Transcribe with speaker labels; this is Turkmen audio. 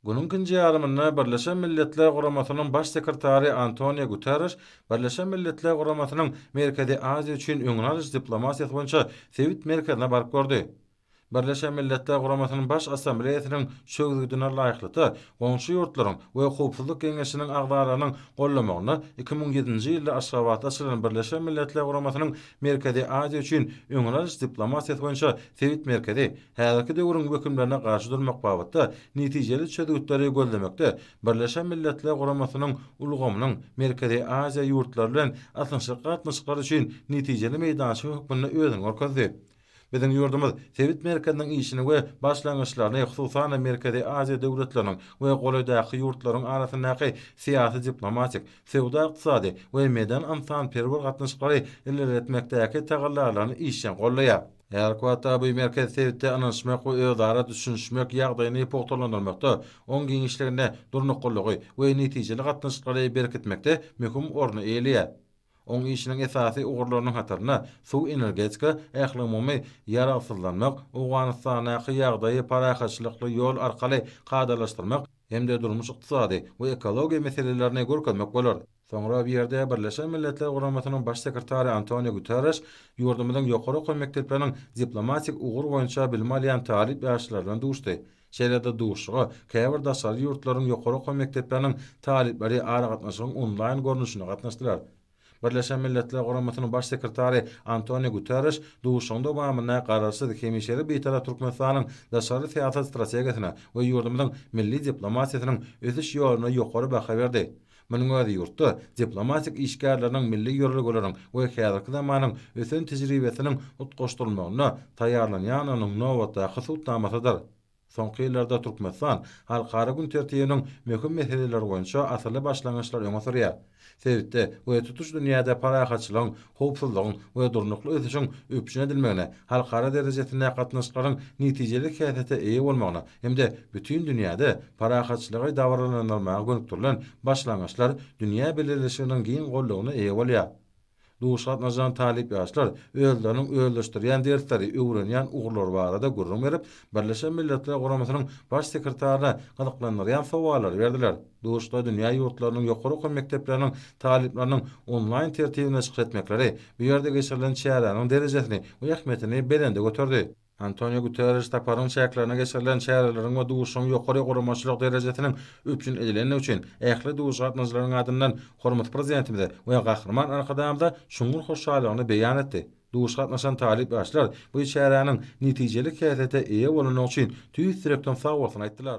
Speaker 1: Günüň ikinji ýarymynda Birleşen Milletler Guramasynyň Baş sekretary Antonio Guterriş Birleşen Milletler Guramasynyň Merkezi Aziýa üçin öňüni alyş diplomatiýasy boýunça sebit merkezine baryp gördi. Birleşen Milletler Guramasynyň Baş Assambleýasynyň çözgüdine laýyklykda, goňşy ýurtlaryň we Howpsuzlyk Geňeşiniň agzalarynyň gollamagynda iki müň ýedinji ýylda Aşgabatda açylan Birleşen Milletler Guramasynyň Merkezi Aziýa üçin öňüni alyş diplomatiýasy boýunça sebit merkezi Häzirki döwrüň wehimlerine garşy durmak babatda netijeli çözgütleri gözlemekde Birleşen Milletler Guramasynyň ulgamynyň Merkezi Aziýa ýurtlary bilen ysnyşykly gatnaşyklary üçin netijeli meýdança hökmünde özüni görkezdi. Biziň ýurdumyz sebit merkeziniň işini we başlangyçlaryny, hususan-da, Merkezi Aziýa döwletleriniň we golaýdaky ýurtlaryň arasyndaky syýasy-diplomatik, söwda-ykdysady we medeni-ynsanperwer gatnaşyklary ilerletmekdäki tagallalaryny işjeň goldaýar. Her wagtda bu merkez sebitde ynanyşmak we özara düşünişmek ýagdaýyny pugtalandyrmakda, oň giňişliginde durnuklylygy we netijeli gatnaşyklary berkitmekde möhüm orny eýeleýär. Oň işiniň esasy ugurlarynyň hatarynda suw-energetika, ähliumumy ýaragsyzlanmak, Owganystandaky ýagdaýy parahatçylykly ýol arkaly kadalaşdyrmak hem-de durmuş-ykdysady we ekologiýa meselelerini görkezmek bolar. Soňra bu ýerde Birleşen Milletler Guramasynyň Baş sekretary Antoniu Guterreş ýurdumyzyň ýokary okuw mekdepleriniň diplomatik ugur boýunça bilim alýan talyp ýaşlary bilen duşdy. Şeýle-de duşuşyga käbir daşary ýurtlaryň ýokary okuw mekdepleriniň talyplary aragatnaşygyň onlaýn görnüşinde gatnaşdylar. Birleşen Milletler Guramasynyň Baş sekretary Antoniu Guterreş duşuşygyň dowamynda Garaşsyz, hemişelik Bitarap Türkmenistanyň daşary syýasat strategiýasyna we ýurdumyzyň milli diplomatiýasynyň ösüş ýoluna ýokary baha berdi Munuň özi ýurtda diplomatik işgärleriniň milli ýörelgeleriň we häzirki zamanyň ösen tejribesiniň utgaşdyrylmagyna taýýarlanýandygynyň nobatdaky subutnamasydyr. Soňky ýyllarda Türkmenistan halkara gün tertibiniň möhüm meseleleri boýunça asylly başlangyçlar öňe sürýär. Sebitde we tutuş dünýäde parahatçylygyň, howpsuzlygyň we durnukly ösüşiň üpjün edilmegine, halkara derejesinde gatnaşyklaryň netijeli häsiýete eýe bolmagyna hem-de bütin dünýäde parahatçylygy dabaralandyrmaga gönükdirilen başlangyçlar dünýä bileleşiginiň giň goldawyna eýe bolýar. Duş gatnaşan talyp ýaşlar özleriniň özleşdirýän dersleri, öwrenýän ugurlary barada gürrüň berip, Birleşen Milletler Guramasynyň Baş sekretaryna gyzyklandyrýan sowallary berdiler. Duşda dünýä ýurtlarynyň ýokary okuw mekdepleriniň talyplarynyň onlaýn tertibinde çykyş etmekleri bu ýerde geçirilen çäräniň derejesini we ähmiýetini belende göterdi. Antonio Guterriş saparyň çäklerine geçirilen çäreleriň we duşuşygyň ýokary guramaçylyk derejesiniň üpjün edilendigi üçin ähli duýguçy gatnaşyjylaryň adyndan hormatly Prezidentimize we Gahryman Arkadagymyza çuňňur hoşallygyny beýan etdi. Duşuşyga gatnaşan talyp ýaşlar bu çäräniň netijeli häsiýete eýe bolandygy üçin tüýs ýürekden sagbolsun aýtdylar.